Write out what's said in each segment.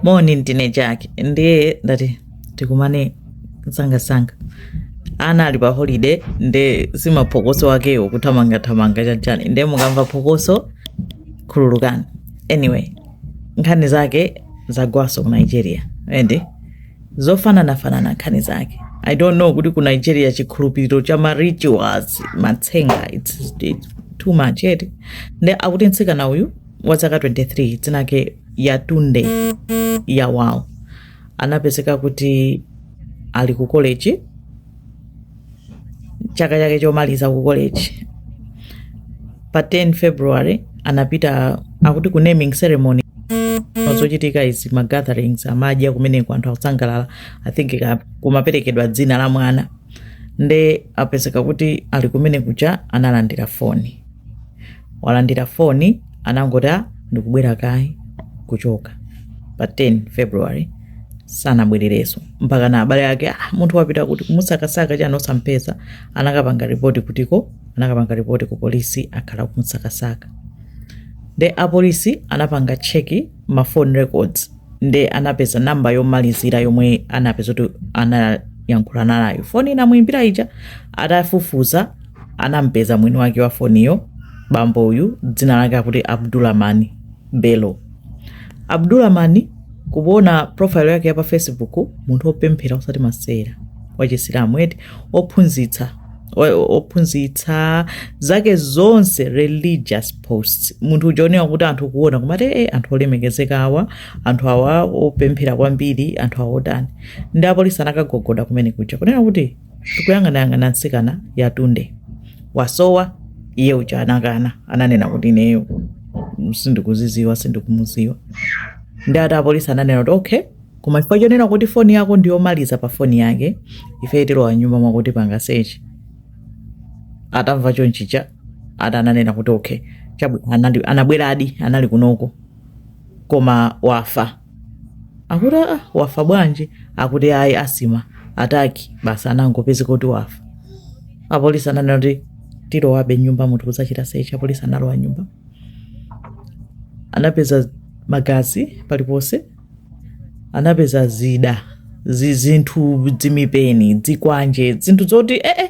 moni ndine jake ndiye ndati tikumane msangasanga ana ali pa holiday nde simaphokoso akewo kuthamangathamanga chanichani nde mukamva phokoso khululukani anyway nkhani zake zagwaso ku nigeria ende zofananafanana nkhani zake i don't know kuti ku nigeria chikhulupiriro cha ma rituals matsenga it's, it's too much eti nde akuti mtsikana uyu wa zaka 23 dzina lake yatunde yawal anapezeka kuti ali ku college chaka chake chomaliza ku college pa 10 february anapita akuti ku naming ceremony zochitika izi ma gatherings amadya kumeneko anthu akusangalala i think ka- kumaperekedwa dzina la mwana nde anapezeka kuti ali kumene kuja analandira foni walandira foni anangoti ah ndikubwera kaye kuchoka pa 10 february sanabwerereso mpaka na abale ake ah, munthu wapita kuti kumusakasaka chani osampeza anakapanga ripoti kutiko anakapanga ripoti ku polisi akhala kumusakasaka nde apolisi anapanga cheki ma phone records nde anapeza namba yomalizira yomwe anapeza kuti anayankhulana nayo foni inamuimbira ija atafufuza anampeza mwini wake wa foniyo bambo uyu dzina lake akuti abdulamani belo abdulamani kuona profile yake ya pa facebook munthu opemphera osati masera wachisilamu eti ophunzitsa o- ophunzitsa zake zonse religious posts munthu uja oneka kuti anthu kuona kumati e anthu olemekezeka awa anthu awa opemphera kwambiri anthu awa otani nde apolisi anakagogoda kumene kuja kunena kuti Tikuyang'anayang'ana mtsikana Yatunde wasowa iye uja anakana ananena kuti ineyo sindikuziziwa sindikumuziwa nde ati apolisi ananena kuti okay koma chifukwa chonena kuti foni yako ndiyomaliza pa foni yake ife tilowa m'nyumba mwako tipanga sechi atamva chonchicha ati ananena kuti okay chabwino anabweradi anali kunoko koma wafa akuti aa wafa bwanji akuti ayi asthma attack basi anangopezeka kuti wafa apolisi ananena kuti tilowabe m'nyumba muno kudzachita sechi apolisi analowa m'nyumba anapeza magazi paliponse anapeza zida zi- zinthu zimipeni zikwanje zinthu zoti ee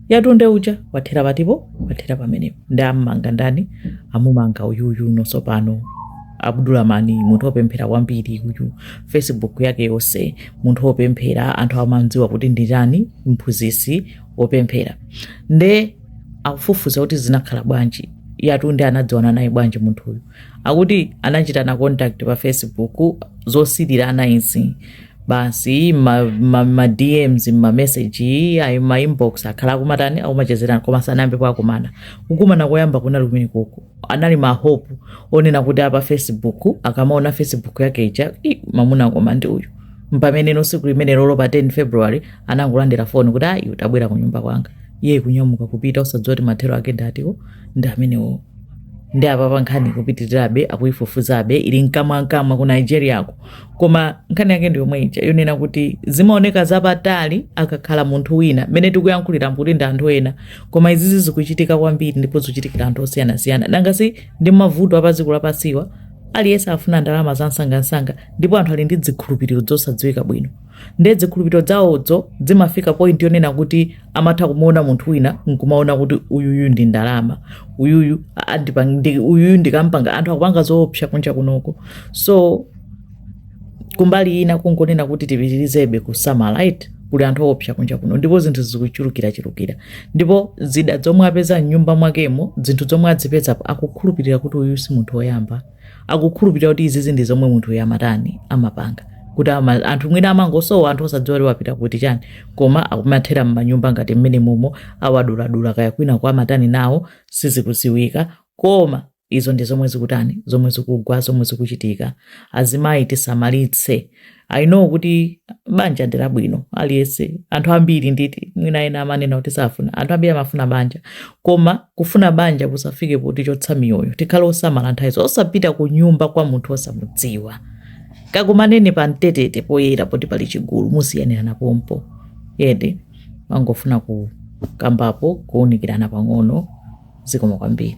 yatunde uja wathera patipo wathera pamenepo nde ammanga ndani amumanga uyuyu nonso pano abdulamani munthu wopemphera kwambiri uyu facebook yake yonse munthu wopemphera anthu amamdziwa kuti ndi chani mphunzitsi wopemphera nde akufufuza kuti zinakhala bwanji yatunde anadziwana naye bwanji munthuyu akuti anachitana contact pa facebook zosilirana izizi basi ma, ma, ma dms ma message ayi ma inbox akhala akumatani akumachezerana koma sanayambe akumana kukumana koyamba kunali kumene uku anali ma hope onena kuti apa facebook akamaona facebook yake ija "Ih, mamuna koma ndi uyu mpameneno siku limenelolo pa 10 february anangolandira foni kuti ayi utabwera ku nyumba kwanga iye kunyamuka kupita osadziwa kuti mathero ake nditani ndi amenewo ndi apapa nkhani kupitirirabe akuyifufuzabe ili mkamwamkamwa ku nigeriako koma nkhani yake ndi yomwe ija yonena kuti zimaoneka zapatali akakhala munthu wina mmene tikuyankhulira kuti ndi anthu ena koma izizi zikuchitika kwambiri ndipo zikuchitikira anthu osiyanasiyana nanga si ndi mavuto apadziko lapansiwa aliyense afuna ndalama za msangamsanga ndipo anthu ali ndi zikhulupiriro zosadziwika bwino Ndiye zikhulupiriro zawozo zimafika point yonena kuti amatha kumuona munthu wina nkumaona kuti uyuyu ndi ndalama uyuyu andipang- ndi- uyuyu ndikampanga anthu akupanga zoopsa kunja kunoko so kumbali ina kungonena kuti tipitirizebe kusamala right kuli anthu oopsa kunja kuno ndipo zinthu zikuchulukirachulukira ndipo zida zomwe apeza mnyumba mwakemo zinthu zomwe azipezapo akukhulupirira kuti uyu si munthu woyamba akukhulupirira kuti izizi ndi zomwe munthuyo amatani amapanga kuti ama, anthu mwina amangosowa anthu osadziwa kuti wapita kuti chani koma akumathera m'manyumba ngati mmenemumo awaduladula kaya kwinakwa amatani nawo sizikuziwika koma izo ndi zomwe zikutani zomwe zikugwa zomwe zikuchitika azimayi tisamalitse i know kuti banja ndi labwino aliyense anthu ambiri nditi mwina ena amanena kuti safuna anthu ambiri amafuna banja koma kufuna banja kusafike potichotsa miyoyo tikhale osamala nthawi zonse osapita ku nyumba kwa munthu osamudziwa kakumaneni pambetete poyera poti pali chigulu musiyanirane pompo ende ndimangofuna kukambapo kuunikirana pang'ono zikomo kwambiri